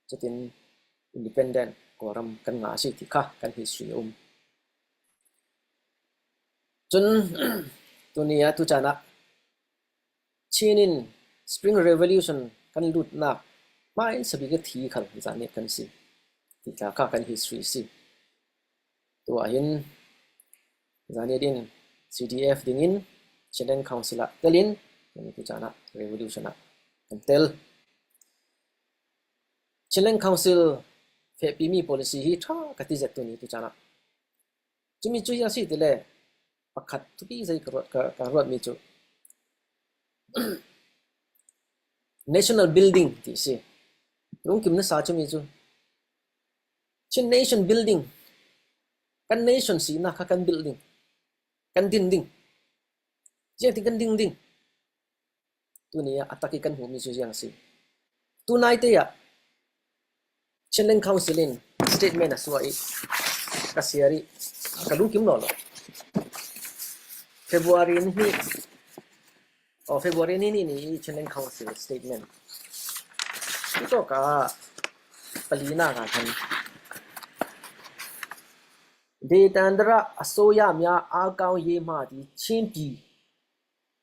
Cutin Independent Kawlram kan ngah a si ti kha kan history a um. Cun tuni ah tuchan ah Chin in Spring Revolution kan lutnak mah in sabik a thi khal zan nih kan si ti tla kha kan history a si. Tu ahhin zani din CDF ding in Shandang Council ah telin tuchan ah revolution ah kan tel. Chinland Council fehpimi policy hi ṭha ka ti zettu nih tucaan ah cumi cu hi a si ti le pakhat tupi zei ka ruat ka ruatmi cu national building ti a si. Lungkim na sa cumi cu Chin nation building kan nation sinak kha kan bilh ding kan din ding ziangtin kan ding ding Tuni ah a tak i kan hmuhmi cu ziang a si? Tunaite ah Chinland Council in statement a suah i ka siar i ka lu kim lawlaw. February ni hi oh February ni ni ni i Chinland Council statement hi tok ah palinak ah khan Detan dara a soyami ah aa kau ye ma ti Chinpi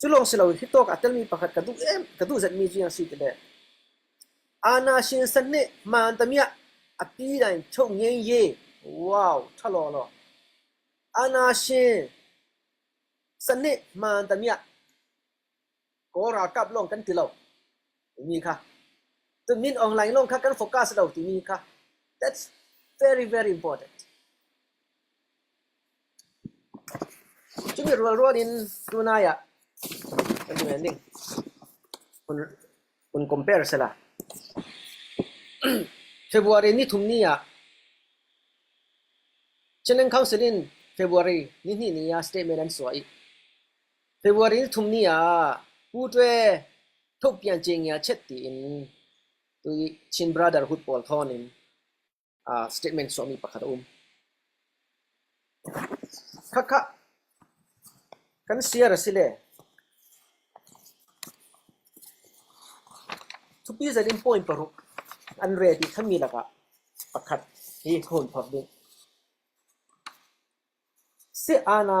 Cu lawng si loin hi tawk aa telmi pakhat ka duh em, ka duh zetmi cu a si ti le Anna Shinsan nih hmaan tamiah a pi nain Cho Ngen Ye wow ṭha lawlaw. Anna Shin san nih hmaan tamiah Kaw ralkap lawng kan ti lo timi kha to Min Aung Hlaing lawng kha kan focus lo timi kha that's very very important. Cumi rualrual in tunai ah kan i nending kun kun compare sela. February ni thum ni ah Chinang Council in February ni ni ni ah statement an suai. February ni thum ni ah Pu Ṭwe Htuk Pian Cengya Chet tiin tui Chin Brotherhood pawl thawn in statement chuahmi pakhat a um. Khakha kan share a si le thupi zarin point paruk an re ti khammi lakah pakhat hi ka hun phak ding. Si ana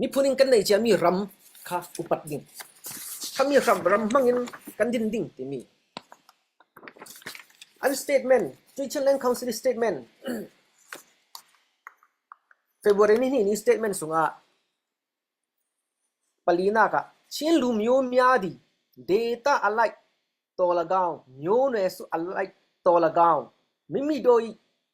Miphun in kan nei ciami ram kha upat ding, khami ram hmang in kan din ding timi. An statement, Tuchan Land Council statement February ni hnih ni statement sungah palinak ah Chin lu myo myadi data alai tawlagaung myo ne su alai tawlagaung mimi doi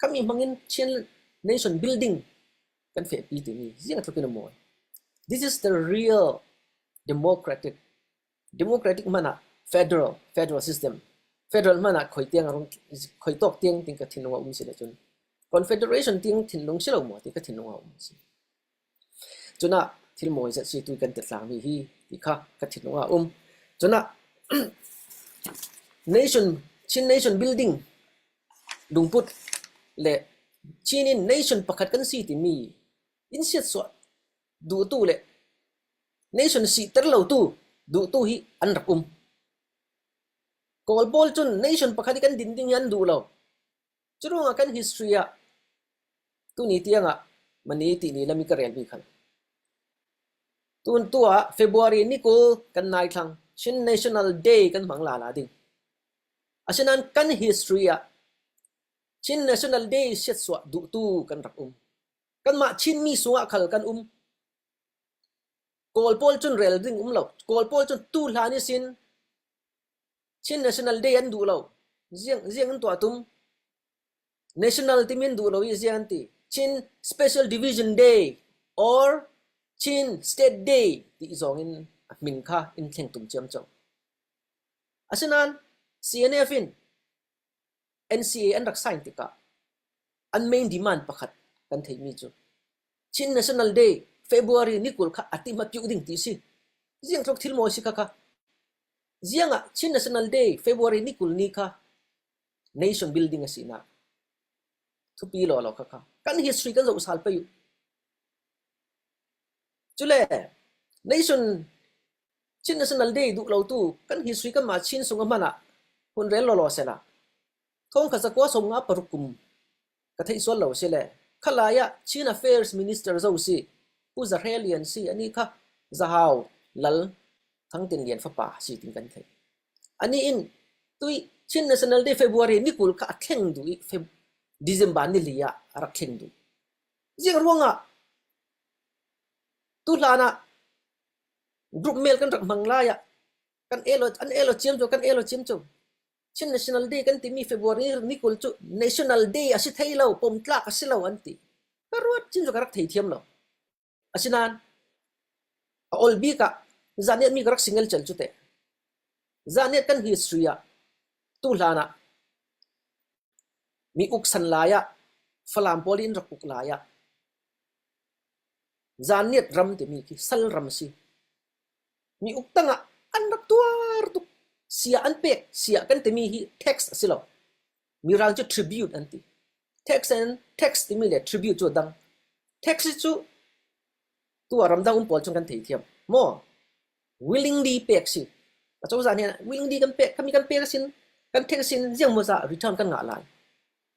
Khammi bangin Chin nation building kan fehpi timi ziangtluk in a mawi. This is the real democratic. Democratic hmanh ah federal, federal system. Federal hmanh ah khoi tiang a rung khoi tawk tiang ting ka thinlung a um si le cun Confederation ting thinlung si lo maw ti ka thinlung a um si. Cun ah thil mawi zat si tu kan tat tlang mi hi ti kha ka thinlung ah a um. Cun ah nation, Chin nation building lungput le Chin in nation pakhat kan si timi in siatsuah duhtu le nation sihter lo tu duhtu hi an rak um. Kawl pawl cun nation pakhat i kan din ding hi an duh lo. Curuangah kan history ah tuni tiangah mani tili lam i ka relmi khan tun tu ah February ni kul kan nai thlang Chin National Day kan hmang la la ding. Asinain kan history ah Chin National Day siatsuah duhtu kan rak um. Kanmah Chinmi sungah khal kan um. Kawl pawl cun rel ding um lo. Kawl pawl cun tu hlan i sin Chin National Day an duh lo. Ziang an tuah tum? National timi an duh lo i ziah an ti? Chin Special Division Day or Chin State Day ti zong in a hmin kha in thleng tum ciam cang. Asinain CNF in NCA an rak sign tikah an main demand pakhat kan theimi cu Chin National Day February ni kul kha a ti ma piuh ding ti si. Ziang tlok thil mawi si kha kha. Ziang ah Chin National Day February ni kul ni kha nation building a sinak thupi lo lo kha kha kan history kan zo sal pe u. Cule nation Chin National Day duh lotu kan hi suikanmah Chin sung a hman ah hun rel lawlaw sehla thongkhat zakua sawmnga paruk kum ka theih sual lo sile khalai ah Chin Affairs Minister zo si Pu Za Hre Lian si anih kha zahau lal Thang Tin Lian fapa si tin kan theih. Ani in tui Chin National Day February ni kul kha a thleng du i Feb December ni li ah a rak thleng du. Ziang ruangah tu hlan ah Group mail kan rak hmang lai ah kan elo an elo ciam cu kan elo ciam cu. Chin National Day kan timi February ni kul cu National Day a si thei lo, pawmtlak a si lo an ti. Ka ruat chin cu ka rak thei thiam lo. Asinain a ol bik ah zan niat mi ka rak singel cel cu te. Zan niat kan history ah tu hlan ah mi uk san lai ah Falam pawl in rak uk lai ah Zaniat ram timi khi sal ram a si. Mi uk tangah an rak tuar tuk. Sia an pek, sia kan timi hi tax a si lo. Mirang cu tribute an ti. Tax in tax timi le tribute cu a dang. Tax hi cu tu ah ramdang um pawl chung kan thei thiam. Maw? Willingly pek si. Acozah nih willingly kan pek, kami kan pek asin, kan tax in ziang maw zah return kan ngah lai.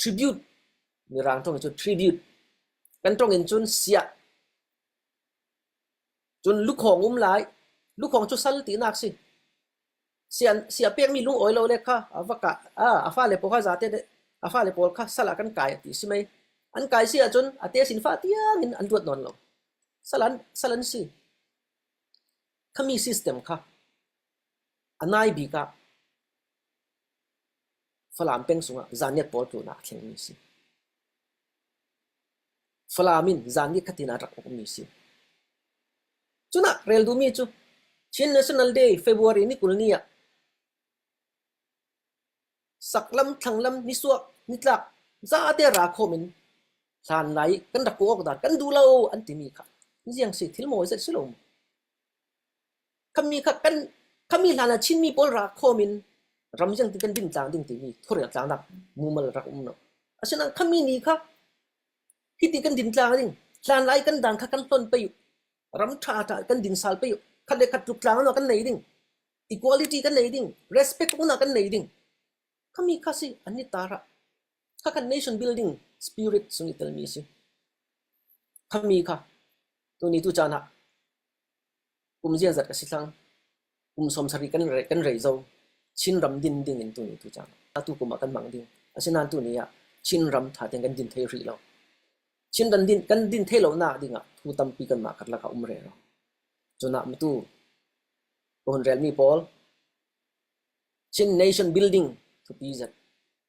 Tribute, Mirang tong in cun tribute, kan tong in cun siah, cun lukhawng um lai. Lukhawng cu sal tinak si. Sia, sia pekmi lungawi lo le kha a va ka, a fale pawl kha zate de, a fale pawl kha sal ah kan kai a ti si mei. An kai si ahcun a te sin fa tiang in an ruat nawn lo. Sal an, sal an si. Khami system kha a nai bik ah Falam peng chung ah zaniat pawl tluhnak a thlengmi a si. Falam in zan nikhatin ah rak ukmi a si. Cunak rel duhmi cu Chin National Day February ni kul ni ah saklam, thlanglam, nisuak, nitlak zate ra khawm in hlan lai i kan rak kuh awk dah kan duh lo an timi kha ziang si thil mawi zat si lo mu. Kami hlan ah Chinmi pawl ral khawm in ram ziangtin kan din tlang ding timi khuarel tlangnak mumal rak um lo. Asinain kami ni kha hiti kan din tlang ding, hlan lai kan dan kha kan hlon pei u. Ram ṭha ṭha kan din sal pei u. Khat le khat tluk tlangno kan nei ding. Equality kan nei ding. Respect uknak kan nei ding. Kami kha si an i tar ah kha kan nation building spirit sung i telmi a si. Kami kha tuni tu caan ah Kum ziazat a si cang. Kum sawmsarih kan reih zong Chinram din ding in tuni atu kum ah kan hmang ding. Asinain tuni ah Chinram tha tein kan din thai rih lo. Chin kan din thai lonak ding ah thu tampi kanmah karlak ah um rero. Cunah matu ka hun relmi pawl Chin Nation Building thupi zat.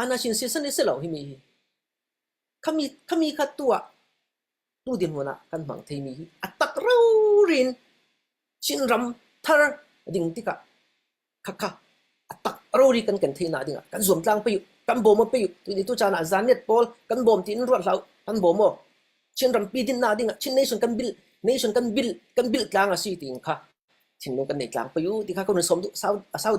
Ana sin si san i si lo himi hi. Khami, khami kha tu ah, tu dirhmun ah kan hmang theimi hi a takrouri in Chinram thar a ding tikah khakha a takrouri kan kan theihnak dingah kan zuamtlang pei u, kan bawm pei u. Tuini tu caan ah zaan net pawl kan bawm tiin ruat hlah u, kan bawm aw. Chinrampi dinnak dingah Chin nation kan bil, nation kan bil, kan bil tlang a si tiin kha thinlung kan nei tlang pei u. Ti kha kan hun som duh, sau, a sau deuh